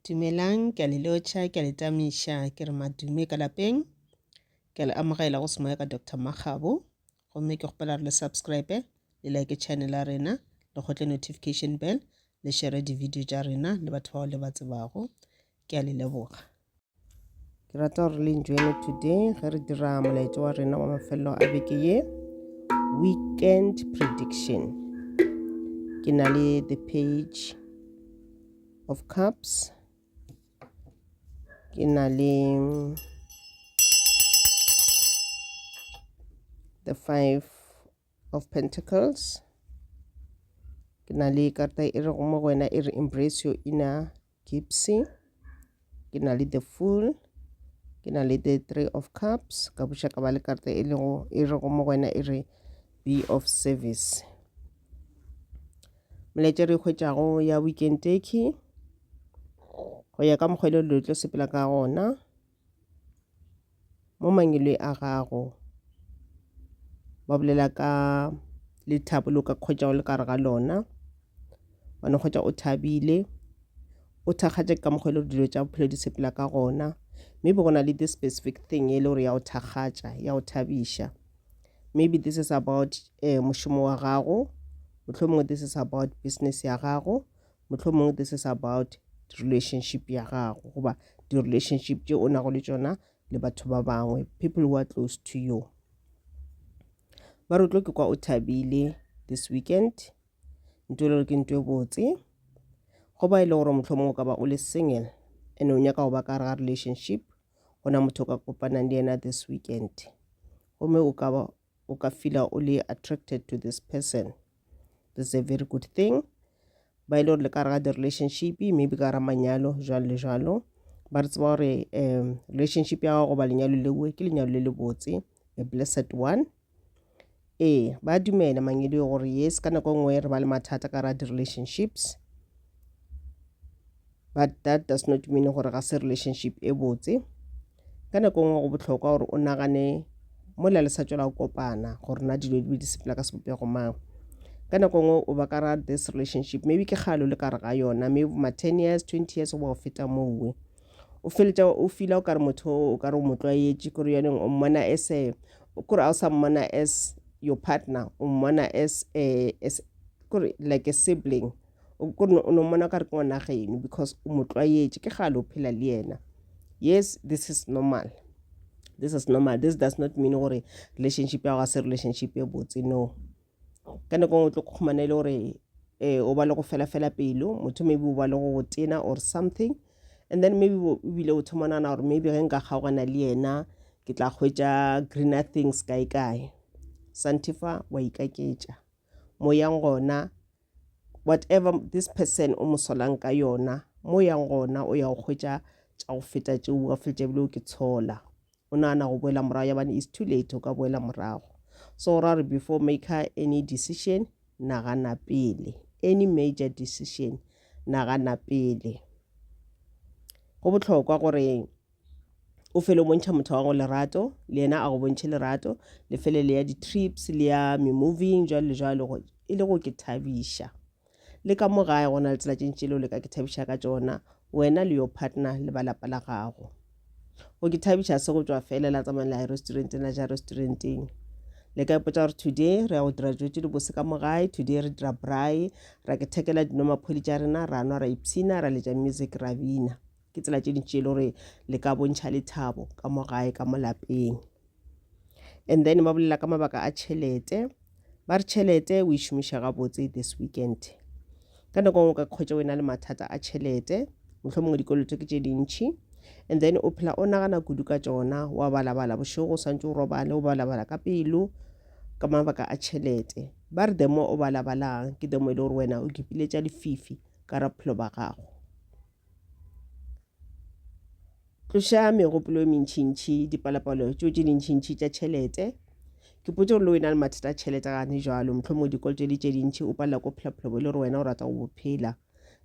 Dumelang, ke a le lotšha, ke a le tamiša, ke re madume ka lapeng. Ke a le amogela go semoya ka Doctor Makgabo. Gomme ke kgopela re le subscribe, le like channel ya rena, le kgotle notification bell, le share di-video tša rena le batho bao le ba tsebago. Ke a le leboga. ke rata gore le enjoyne today ge re dira molaetso wa rena wa mafelelo a beke ye weekend prediction ke na le the page of cups ke na le the five of pentacles ke na le karata e re go mo go wena e re embrace your inner Gipsy, ke na le the fool, ke na le the three of cups, ka buša ka ba le karata e lego e rego mo go wena e re be of service. Molaetša re hwetšago ya weekend turkey go ya ka mokgwa e le dilo tlo sepela ka gona. mo mangwele a gago ba bolela ka lethabo le o ka kgwetšago le kare ga lona wa no kgwetša o thabile o thakgatše ka mokgwa e le gore dilo tša bophelo di sepela ka gona maybe go na le this specific thing e le gore ya go thakgatša ya go thabiša maybe this is about um mošomo wa gago mohlomongwe this is about business ya gago mohlomong this is about relationship ya gago goba di-relationship tše o nago le tšona le batho ba bangwe people who are close to you ba re tlo ke kwa o thabile this weekend nto le gore ke nto e botse go ba e le gore mohlomong o ka ba o le single and o nyaka go ba ka ga relationship go na motho o ka kopanang le yena this weekend gomme o ka ba o ka fila o le attracted to this person this is a very good thing ba e le gore le ka re ga di-relationship maybe ka ra manyalo jalo le jalo ba re tseba gore um relationship ya gago goba lenyalo leo ke lenyalo le le botse a blessed one ee ba dumela mangedi gore yes ka nako nngwe re ba le mathata ka ra di-relationships but that does not mean gore ga se relationship e botse Ka nako nngwe go bohlokwa gore o nagane mola le sa tšwela go kopana gore na dilo di be di sepela ka sebopego mang. Ka nako nngwe o ba ka ra this relationship maybe ke kgale o le kare ga yona maybe ma ten years twenty years go ba go feta mowe o feletša o fila o kare motho o kare o mo tlwaetše kore yoneng o mmona as a kore a o sa mmona as your partner o mmona as a as kore like a sibling o ko o no mona ka re ke ngwana geno because o mo tlwaetše ke gale o phela le yena yes this is normal this is normal this does not mean gore relationship ya go se relationship e botse no ka nako ngwe o tlo kgomana e le gore eh, o ba le go fela fela pelo motho maybe o ba le go tena or something and then maybe ebile o thoma nana gore maybe ge nka kgaogana le yena ke tla hwetša greener things kae kae santifa wa ikaketša mo yang gona whatever this person o mo solang ka yona mo yang gona o ya go hwetša tša go feta tšeo o ka feletša ebile o ke tshola o nagana go boela morago yabane is too late o ka boela morago so ra re before make her any decision nagana pele any major decision nagana pele go bohlokwa gore o fele o bontšha motho wa go lerato le yena a go bontšhe lerato le fele le ya di-trips le ya memoving jalo le jalo e le go ke thabiša le ka mo gae go na le tsela tše ntši leo le ka ke thabiša ka tsona wena le yo partner le ba lapa la gago go ke thabiša se go tswa fela la tsamaya la ya restauranteng la ja restauranteng le ka ipotsa gore today re ya go dira dijo tse di bose ka mo gae today re dira braai ra ke thekela dinwa maphodi tša rena ra nwa ra ipshina ra letša music ra bina ke tsela tše dintši e le gore le ka bontšha lethabo ka mo gae ka mo lapeng and then ba bolela ka mabaka a tšhelete ba re tšhelete o e šomiša gabotse this weekend ka nako ngwe ka kgwetsa wena le mathata a tšhelete motlho mongwe dikoloto ke tše dintšhi and then o phela o nagana kudu ka tsona wa balabala bošego o swantse o robale o balabala ka pelo ka mabaka a tšhelete ba re demo o balabalang ke demo e le gore wena o kipiletša lefifi ka ra bophelo ba gago Tloša megopolo e mentšintši, dipalopalo tšeo tše dintšintši tša tšhelete. Ke potše gore le wena le mathata a tšhelete gane jalo, mohlho mo dikoloto le tše dintši, o palela ko phelapholobo le gore wena o rata go bophela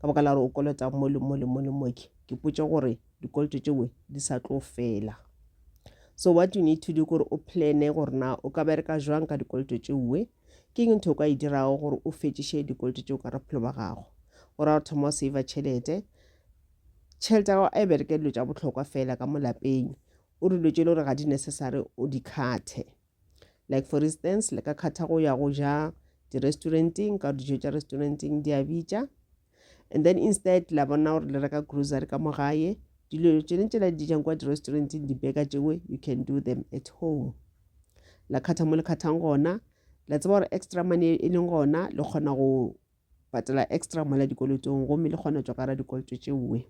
ka baka la gore o kolota mo le mo le mo le moke. Ke potše gore dikoloto tšewe di sa tlo fela. So what you need to do gore o plane gore na o ka bereka jwang ka dikoloto tšewe. Ke eng ntho o ka e dirago gore o fetšiše dikoloto tšeo ka bophelo ba gago? O ra o thoma o seiva tšhelete. Tšhelete ya gago a e bereke dilo tša bohlokwa fela ka mo lapeng. O re dilo tše e le gore ga di necessary o di khathe. Like for instance, le ka khatha go ya go ja di-restauranteng ka dijo tša restauranteng di a bitša. and then instead la bona gore le reka grocery ka mo gae dilo tšene tšela di jang kwa di-restauranteng dibeka tšengwe you can do them at home la kgatha mo le kgathang gona la tseba gore extra money e leng gona le kgona go patela extra mola dikolotong gomme le kgona tšwa ka ra dikoloto tšeoe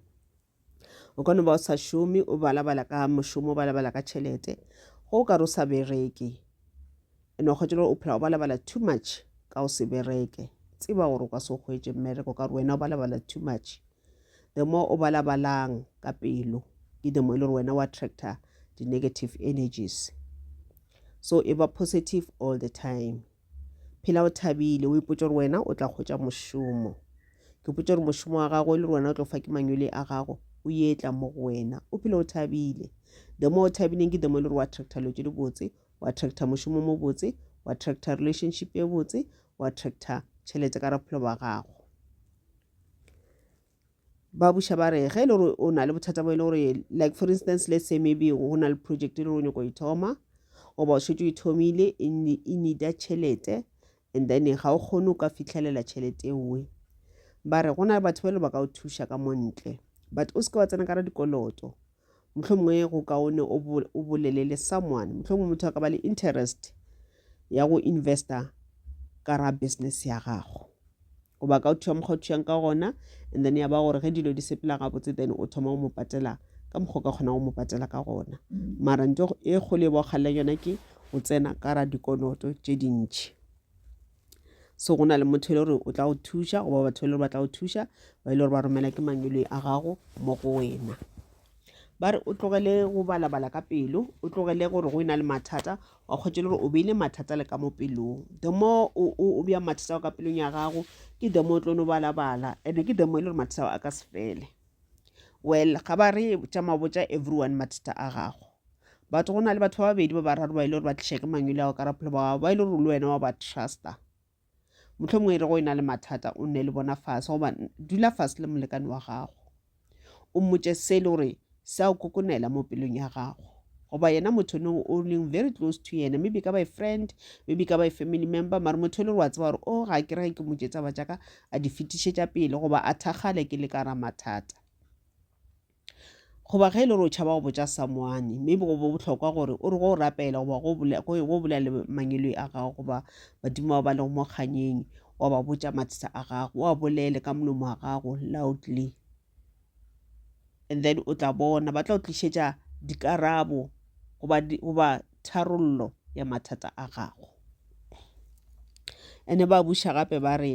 o ka no ba o sa šome o balabala ka mošomo o balabala ka tšhelete go o ka re o sa bereke ene wa kgwetše gore o phela o balabala too much ka o se bereke tseba gore o ka se o kgwetše mmereko ka gore wena o balabala too much the more o balabalang ka pelo ke the more e le gore wena wa attractor di-negative energies so e ba positive all the time Phela o thabile, o ipotša gore wena o tla hwetša mošomo. Ke ipotša gore mošomo wa gago e le gore wena o tlo fa ke manyole a gago, o ye tla mo go wena. O phela o thabile. The more o thabileng ke the more e le gore o attracta dilo tše di botse, o attracta mošomo mo botse, o attracta relationship e botse, o attracta tšhelete ka raphelo ba gago. ba buša ba re ge e le gore o na le bothata bo e le gore like for instance let's say maybe go na le project e le gore o nyako e thoma goba o šetse o e thomile e, e needa tšhelete and then ga o kgone o ka fitlhelela tšhelete nngwe ba re go na le batho ba e le ba ka o thuša ka montle but o seke wa tsena ka ra dikoloto motlho mongwe go kaone o bolele le someone motlho mongwe motho a ka ba le interest ya go investa ka ra business ya gago o baka o thua mokgwa o thuyang ka gona and then ya ba gore ge dilo di sepela gabotse then o thoma o mo patela ka mokgwa o ka kgonang go mo patela ka gona mara nto e kgolo e ba o kgalelang yona ke o tsena ka ra dikoloto tše dintšhi so go na le motho e le gore o tla go thuša goba batho e le gore ba tla go thuša ba e le gore ba romela ke mangweloi a gago mo go wena ba re o tlogele go balabala ka pelo o tlogele gore go e na le mathata wa kgwetše le gore o beile mathata le ka mo pelong the more o bja mathata ao ka pelong ya gago ke the more o tlo no balabala and-e ke the more e le gore mathata ao a ka se fele well ga ba re tša mabotsa everyone mathata a gago batho go na le batho ba babedi ba bararo ba e le gore ba tliša ke mangwele ao ka rapholo ba gago ba e le gore le wena wa ba truster Mohlomongwe e re go e na le mathata o nne le bona fase goba dula fase le molekane wa gago o mmotše se le gore sa o kokonela mo pelong ya gago goba yena motho ne o leng very close to yena maybe ka ba e friend maybe ka ba e family member mare motho e le gore wa tseba gore o oh, ga ke rege ke motše tsaba jaaka a di fetišetša pele goba a thakgale ke le ka ra mathata Goba ge e le gore o tšhaba go botša samoane, maybe go bo bohlokwa gore o re go rapela goba go bolela, go bolela le mangiloi a gago goba badimo bao ba lego mo kganyeng, wa ba botša mathata a gago, wa bolele ka molomo wa gago loudly. And then o tla bona ba tla go tlišetša dikarabo goba goba tharollo ya mathata a gago. And-e ba buša gape ba re.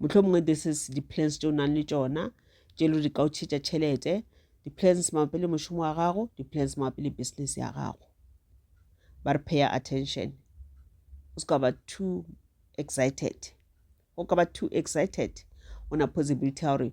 Mohlomongwe this is di-plans tše o nang le tšona tše lo di ka o tšhetša tšhelete di-plans mabapi le mošomo wa gago di-plans mabapi le business ya gago ba re paya attention o se ka ba too excited go ka ba too excited go na possibility ya gore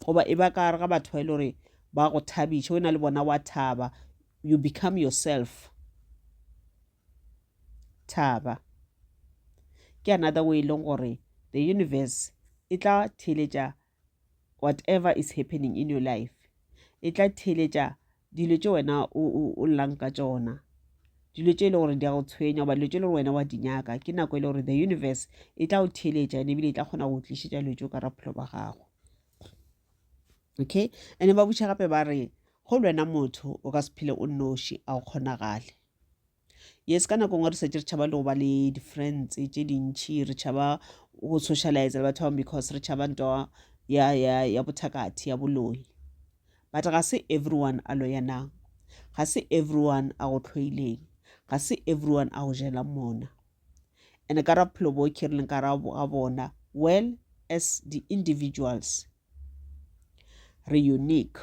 goba e ba ka gare ga batho ba e le gore ba go thabiša wena le bona wa thaba you become yourself thaba ke another way e leng gore the universe e tla theletša whatever is happening in your life e tla theletša dilo tše wena o llang ka tšona dilo tše e le gore di a go tshwenya goba dilo tše e le gore wena wa di nyaka ke nako e le gore the universe e tla go theeletša ene ebile e tla kgona go tlišetša dilo tšeo ka raphelo ba gago okay ande ba butšha gape ba re go le wena motho o ka se phele o noši a go kgonagale yes ka nako ngwe re setse re tšhaba le go ba le di-friends tše dintšhi re tšhaba go socialize le batho ba bangwe because re tšhaba nto ya, ya, ya bothakathi ya boloi but ga se everyone a loyanang ga se everyone a go tlhoileng ga se everyone a go jelang mona and ka ra bophelo bo ke re leng ka ra ga bona well as the individuals re unique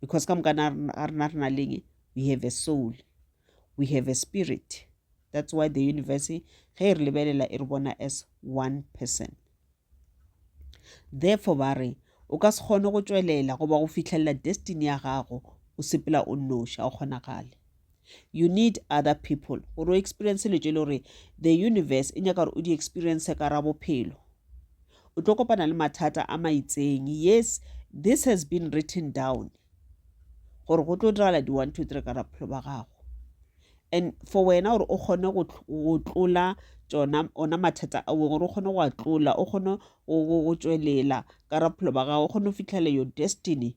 because ka moka ga rena re na leng we have a soul we have a spirit that's why the universe ge e re lebelela e re bona as one person therefore ba re o ka se kgone go tšwelela goba go fitlhelela destiny ya gago o sepela o nnoši ga o kgonagale you need other people gore o experience le tšele gore the universe e nyaka gore o di experience ka ra bophelo o tlo kopana le mathata a maitseng yes this has been written down gore go tlo diragala di one two three ka ra bophelo ba gago and for wena gore o kgone go tlola tsona ona mathata a weng gore o kgone go a tlola o kgone go tswelela ka raphelo ba gago o kgone go fitlhela your destiny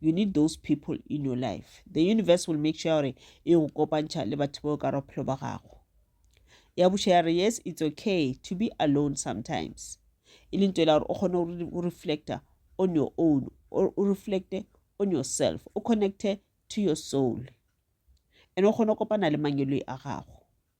you need those people in your life the universe will make sure gore e go kopantšha le batho bao ka ra bophelo ba gago ya buša ya re yes it's okay to be alone sometimes e leng tsela gore o kgone go reflecta on your own or o reflecte on yourself o connecte to your soul and o kgone go kopana le mangeloi a gago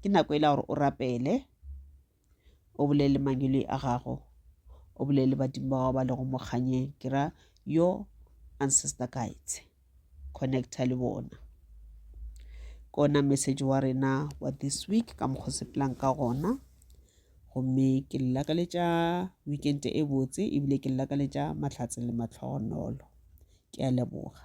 Ke nako e la gore o rapele, o bolele mangwele a gago, o bolele badimo ba gago ba lego mo kganyeng, ke ra yo ancestor guides, connecta le bona. Ke ona message wa rena wa this week ka mokgwa sepelang ka gona, gomme ke le lakaletša weekend e botse ebile ke le lakaletša mahlatse le matlhogonolo. Ke a leboga.